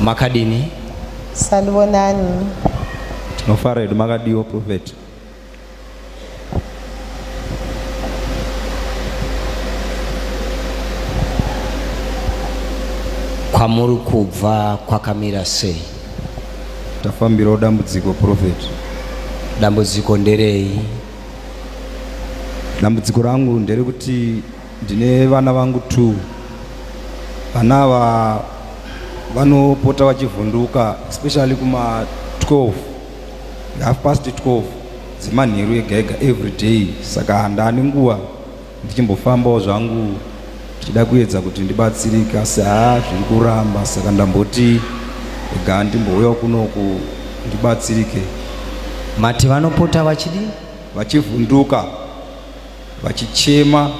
makadini sanibonani tinofara hedu makadiwo profeti kwamuri kubva kwakamira sei tafambirawo dambudziko profeti dambudziko nderei dambudziko rangu nderekuti Ndine vana vangu two. Vana ava vanopota vachivhunduka especially kuma 12 half past 12 dzemanheru ega ega every day saka handani nguva ndichimbofambawo zvangu ndichida kuedza kuti ndibatsirike asi haa zviri kuramba saka ndamboti ega ndimbouyawo kunoku ndibatsirike mati vanopota vachidi vachivhunduka vachichema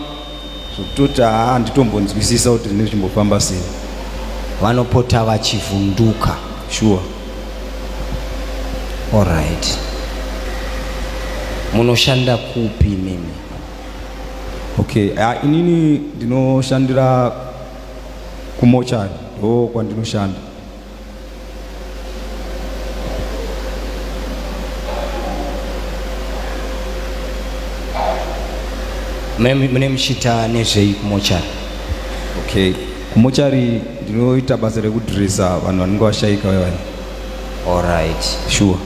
zvokutoti haa handitombonzwisisa kuti zvinenge zvichimbofamba sei vanopota vachivhunduka shuwa oright munoshanda kupi mimi okay uh, inini ndinoshandira kumochari ndo kwandinoshanda mune muchiita nezvei kumochari okay kumochari ndinoita basa rekudresa vanhu vanenge vashaika vevani allright sure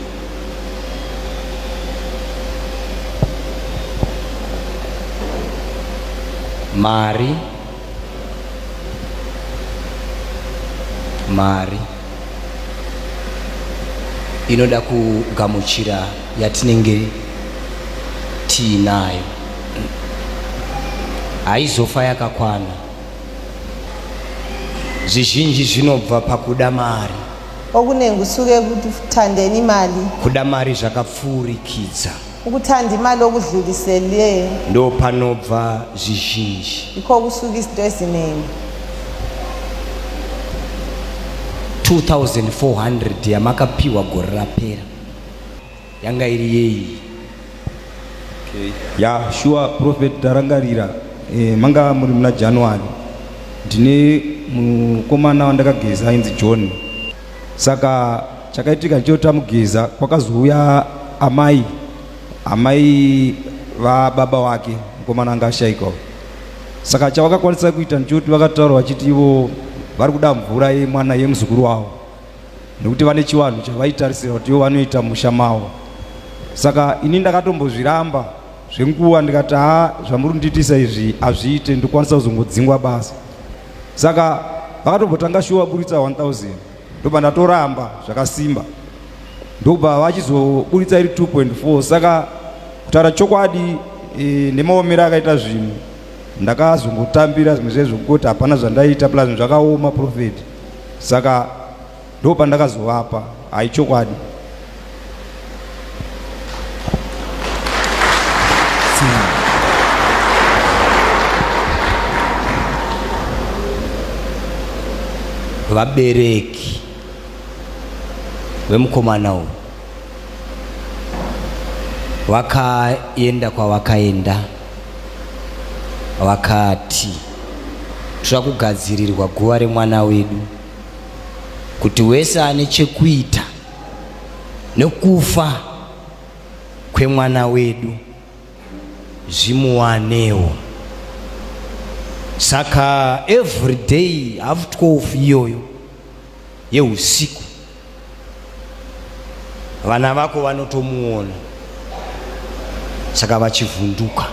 mari mari inoda kugamuchira yatinenge tiinayo haizofa yakakwana zvizhinji zvinobva pakuda mari okunenge kusuke kutandeni mali kuda mari zvakapfuurikidza Ukuthanda imali okudlulisele. Ndo panobva zvizhinji. Ikho kusuka izinto eziningi. 2400 yamakapiwa gore rapera yanga iri yeyi okay. ya yeah, shuwa prophet tarangarira eh, manga muri muna january ndine mukomana wandakageza ainzi john Saka chakaitika ndicho tamugiza kwakazouya amai amai vababa wake mukomana anga ashaikwa saka chavakakwanisa kuita ndichoti vakataura vachiti ivo vari kuda mvura yemwana yemuzukuru wavo nekuti vane chivanhu chavaitarisira kuti ivo vanoita musha mavo saka ini ndakatombozviramba zvenguva ndikati ha zvamuri kundiitisa izvi hazviite ndokwanisa kuzongodzingwa basa saka vakatombotanga shuwa vaburitsa 1000 ndobva ndatoramba zvakasimba ndobva vachizoburitsa iri 2.4 saka kutaura chokwadi e, nemaomero akaita zvinhu ndakazongotambira zvimwe zvezvo kuti hapana zvandaita plus zvakaoma profeti saka ndo pandakazovapa hai chokwadi vabereki vemukomana uyu vakaenda kwavakaenda vakati tira kugadzirirwa guva remwana wedu kuti wese ane chekuita nekufa kwemwana wedu zvimuwanewo saka every day half 12 iyoyo yeusiku vana vako vanotomuona saka vachivhunduka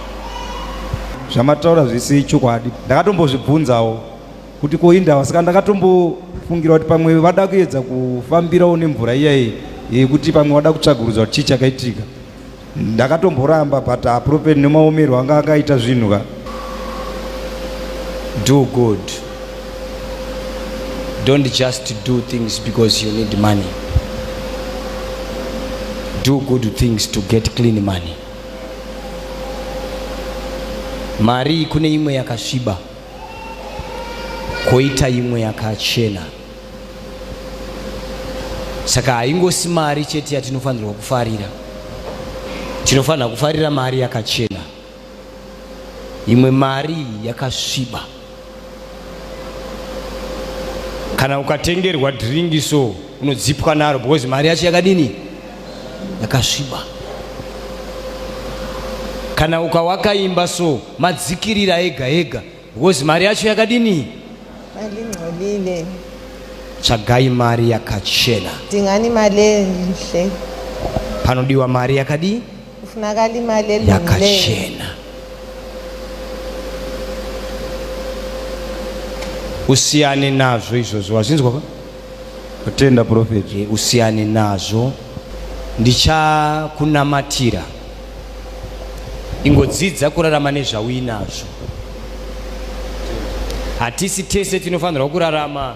zvamataura zvisi chokwadi ndakatombozvibvunzawo kuti ko indava saka ndakatombofungira kuti pamwe vada kuedza kufambirawo nemvura iyayi yekuti pamwe vada kutsvagurudza kuti chii chakaitika ndakatomboramba but apropeti nemaomerwo anga akaita zvinhu ka do good don't just do things because you need money do good things to get clean money mari kune imwe yakasviba koita imwe yakachena saka haingosi mari chete yatinofanirwa kufarira tinofanira kufarira mari yakachena imwe mari yakasviba kana ukatengerwa dhiringi so unodzipwa naro because mari yacho yakadini yakasviba kana ukawaka imba so madzikirira ega ega because mari yacho yakadini malingcolile tsvagai mari yakachena tingani mali enhle panodiwa mari yakadii kufunakala imali elungileyo usiyane nazvo izvozvo wazvinzwa ka kutenda profeti eh, usiyane nazvo ndichakunamatira ingodzidza kurarama nezvauinazvo hatisi tese tinofanirwa kurarama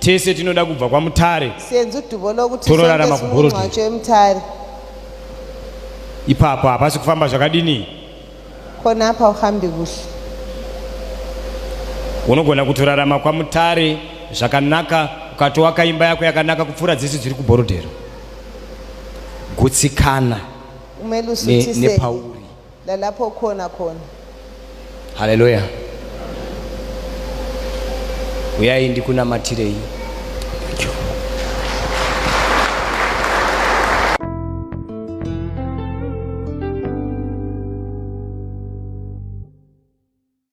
tese tinoda kubva kwamutare senzu duvo lokuti Tororarama sonke kuBhorodi. simunxwatsho emutare ipapo hapasi kufamba zvakadini khona apha uhambi kuhle unogona kutorarama kwamutare zvakanaka ukatoaka imba yako yakanaka kupfuura dzese dziri kubhorodhero gutsikana kumele ne- usuthise nepauri Lalapo kona kona. Haleluya. Uyai ndikunamatirei.